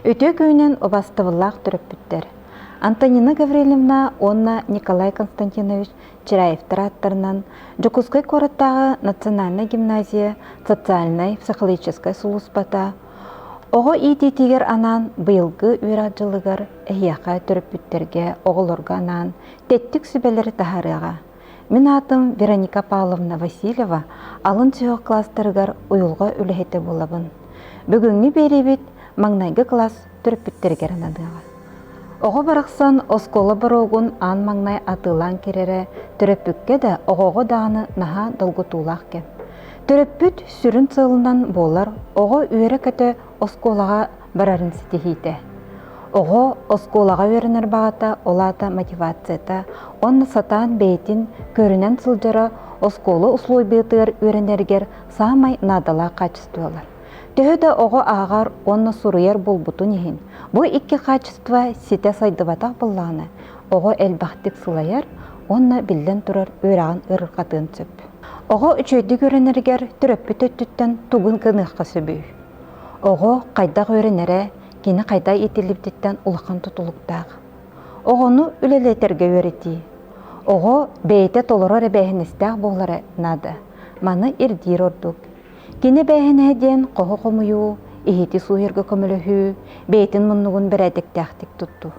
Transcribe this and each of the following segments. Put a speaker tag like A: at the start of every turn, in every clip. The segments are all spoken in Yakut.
A: Үтүө күнүн убастыбыллаах төрөппүттэр Антонина Гаврильевна уонна Николай Константинович Чираевтар ааттарынан Дьокуускай куораттааҕы национальнай гимназия социальнай-психологическай сулууспата оҕо иитиитигэр анаан быйылгы үөрэх дьылыгар эһиэхэ төрөппүттэргэ оҕолорго анаан тэттик сүбэлэри таһаарыаҕа Мин аатым Вероника Павловна Васильева, алын сүһүөх класстарыгар уйулҕа үлэһитэ буолабын. Бүгүҥҥү биэриибит маҥнайгы класс төрөппүттэригэр ананыаҕа. Оҕо барахсан оскуола боруогун аан маҥнай атыылаан киирэрэ төрөппүккэ да, оҕоҕо даҕаны наһаа долгутуулаах кэм. Төрөппүт сүрүн сыалынан буолар оҕо үөрэ-көтө Оскуолаҕа барарын ситиһиитэ. Оҕо оскуолаҕа үөрэнэр баҕата, ол аата мотивацията уонна сатаан бэйэтин көрүнэн сылдьара оскуола усулуобуйатыгар үөрэнэригэр саамай наадалаах хаачыстыбалар. Төһө да оҕо ааҕар уонна суруйар буолбутун иһин, бу икки хаачыстыба ситэ сайдыбатах буоллаҕына, оҕо элбэхтик сылайар уонна биллэн турар үөрэҕин ыарырҕатыан сөп. Оҕо үчүгэйдик үөрэнэригэр төрөппүт өттүттэн тугун гыныахха сөбүй? Оҕо хайдах үөрэнэрэ кини хайдах иитиллибититтэн улахан тутулуктаах. Оҕону үлэлэтэргэ үөрэтии. Оҕо бэйэтэ толорор эбээһинэстээх буолара наада. Маны ирдиир ордук. Кини эбээһинэһэ диэн хоһу хомуйуу, иһити сууйарга көмөлөһүү бэйэтин муннугун бэрээдэктээхтик туттуу.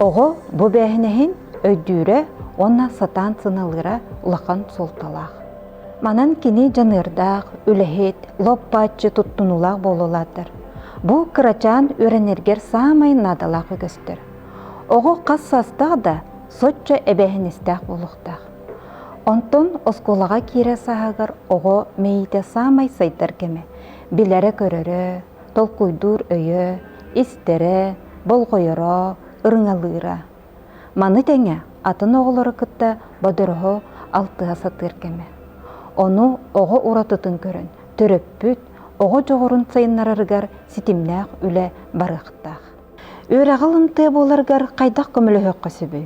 A: Оҕо бу бээһинэһин өйдүүрэ уонна сатаан сыналыыра улахан суолталаах. Манан кини дьаныардаах, үлэһит, лоппааччы туттунуулаах буола улаатар. Бу кырачаан үөрэнэргэр саамай наадалаах үгэстэр. Оҕо хас саастаах да соччо эбээһинэстээх буолуохтаах. Онтон оскуолаҕа киирэ сааһыгар оҕо мэйиитэ саамай сайдар кэмэ. Билэрэ-көрөрө, толкуйдуур өйө, истэрэ, болҕойоро, ырыҥалыыра. Маны тэҥэ атын оҕолору кытта бодороһу алтыһа сатыыр кэмэ. Ону оҕо уратытын көрөн төрөппүт оҕо дьоҕурун сайыннарарыгар ситимнээх үлэ барыахтаах. Үөрэҕи ылымтыа буоларгар хайдах көмөлөһүөххэ сөбүй?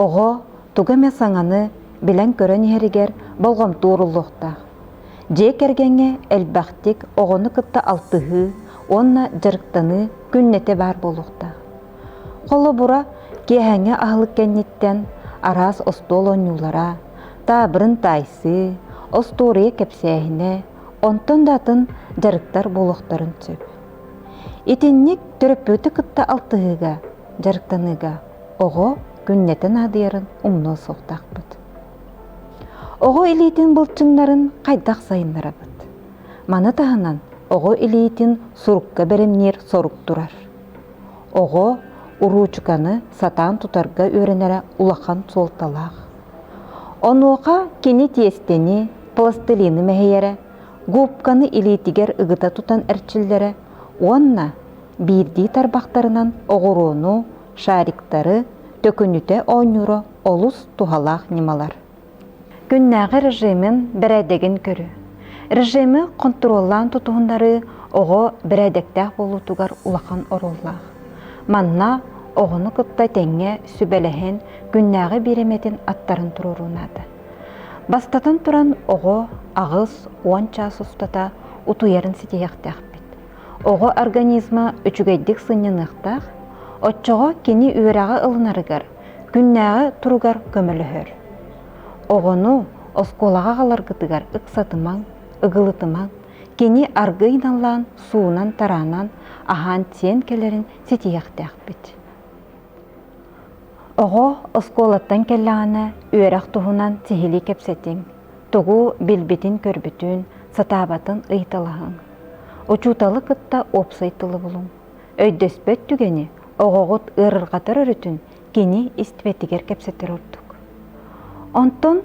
A: Оҕо тугу эмэ саҥаны билэн-көрөн иһэригэр болҕомто ууруллуохтаах. Дьиэ кэргэҥҥэ элбэхтик оҕону кытта алтыһыы уонна дьарыктаныы күннэтэ баар буолуохтаах. Холобура, киэһээҥҥи аһылык кэнниттэн араас остуол оонньуулара, таабырын таайсыы, остуоруйа кэпсээһинэ, онтон да атын дьарыктар буолуохтарын сөп. Итинник төрөппүтү кытта алтыһыыга, дьарыктаныыга оҕо күннэтин аадыйарын умнуо суохтаахпыт. Оҕо илиитин былчыҥнарын хайдах сайыннарабыт? Маны таһынан оҕо илиитин сурукка бэримниир сорук турар. Оҕо уруучуканы сатаан тутарга үөрэнэрэ улахан суолталаах. Онуоха кини тиэстэни, пластилины мэһийэрэ губканы илиитигэр ыгыта тутан эрчиллэрэ уонна биирдии тарбахтарынан оҕуруону, шариктары, төкүнүтэ оонньуура олус туһалаах ньымалар. Күннээҕи режимин бэрээдэгин көрү. Режими хонтуруоллаан тутуһуннарыы оҕо бэрээдэктээх буолуутугар улахан оруоллаах. Манна оҕону кытта тэҥҥэ сүбэлэһэн күннээҕи биэримэтин аттарын туруорунаата. Бастатан туран, оҕо аҕыс уон чаас устата утуйарын ситиһиэхтээхпит. Оҕо организма үчүгэйдик сынньаныахтаах, оччоҕо кини үөрэҕи ылынарыгар, күннээҕи туругар көмөлөһөр. Оҕону оскуолаҕа аҕаларгытыгар ыксатымаҥ, ыгылытымаҥ, кини аргы ыйналлаан, суунан-тараанан, аһаан-сиэн кэлэрин ситиһиэхтээхпит. Оҕо оскуолаттан кэллэҕинэ үөрэх туһунан сиһилии кэпсэтиҥ, тугу билбитин-көрбүтүн, сатаабатын ыйыталаһыҥ. Учууталы кытта уопсай тылы булуҥ. Өйдөспөт түгэни оҕоҕут ыарырҕатар өрүтүн кини истибэтигэр кэпсэтэр ордук. Онтон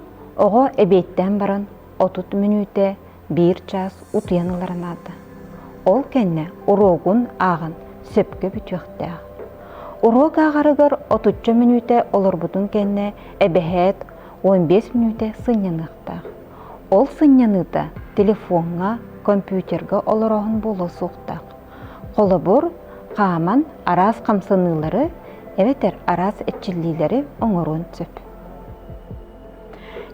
A: оҕо эбиэттээн баран отут мүнүүтэ биир чаас утуйан ылара наада. Ол кэннэ уруогун ааҕан сөпкө бүтүөхтээх. Уруок ааҕарыгар отучча мүнүүтэ олорбутун кэннэ эбэһээт 15 мүнүүтэ сынньаныахтаах. Ол сынньаныыта телефоҥҥа, компьютерга олорооһун буолуо суохтаах. Холобур, хааман араас хамсаныылары эбэтэр араас эрчиллиилэри оҥоруон сөп.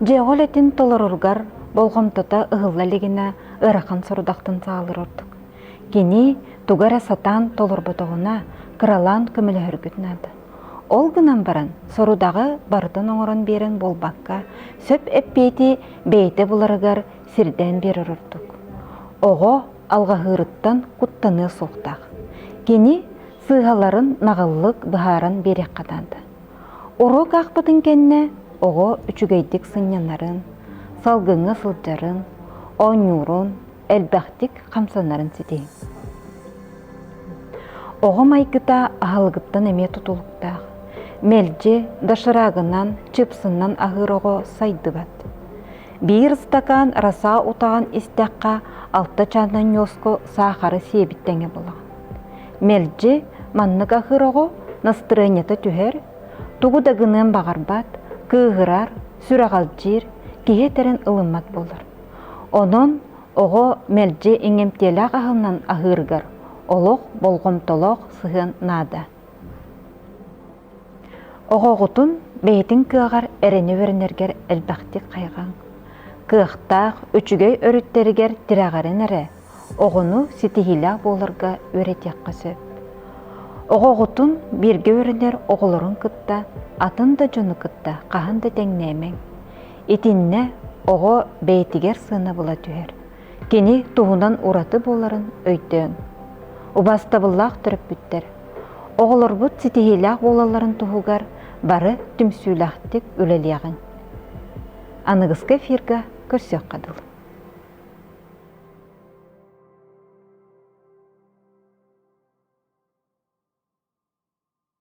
A: Дьиэҕэ үлэтин толороргар болҕомтото ыһылла илигинэ ыарахан сорудахтан саалар ордук. Кини тугу эрэ сатаан толорботоҕуна кыралаан көмөлөһөргүт наада. Ол гынан баран сорудаҕы барытын оҥорон биэрэн буолбакка, сөп эппиэти бэйэтэ буларыгар сирдээн биэрэр ордук. Оҕо алҕаһыырыттан куттаныа суохтаах. Кини сыыһаларын наҕыллык быһааран биэриэххэ наада. Уруок аахпытын кэннэ оҕо үчүгэйдик сынньанарын, салгыҥҥа сылдьарын, оонньуурун, элбэхтик хамсанарын ситиһиҥ. Оҕо майгыта аһылыгыттан эмиэ тутулуктаах. Мэлдьи доширагынан, чыпсыннан аһыыр оҕо сайдыбат. Биир ыстакаан раса утаҕын истэххэ, алта чаанан ньуоска саахары сиэбит тэҥэ буолаҕын. Мэлдьи маннык аһыр оҕо настырыанньата түһэр, тугу да гыныан баҕарбат, кыыһырар, сүрэҕэлдьиир, киһи этэрин ылыммат буолар. Онон оҕо мэлдьи иҥэмтиэлээх аһылынан аһыырыгар олох болҕомтолоох сыһыан наада. Оҕоҕутун бэйэтин кыаҕар эрэни үөрэнэргэр элбэхтик хайҕаҥ. Кыахтаах, үчүгэй өрүттэригэр тирэҕирэн эрэ, оҕону ситиһиилээх буоларга үөрэтиэххэ сөп. Оҕоҕутун бииргэ үөрэнэр оҕолорун кытта атын да дьону кытта хаһан да тэҥнээмэҥ. Итиннэ оҕо бэйэтигэр сыанабыла түһэр. кини туһунан ураты буоларын өйдөөҥ. Убаастабыллаах төрөппүттэр, оҕолорбут ситиһиилээх буолалларын туһугар бары түмсүүлээхтик үлэлиэҕиҥ. Аныгыскы эфирга көрсүөххэ дылы.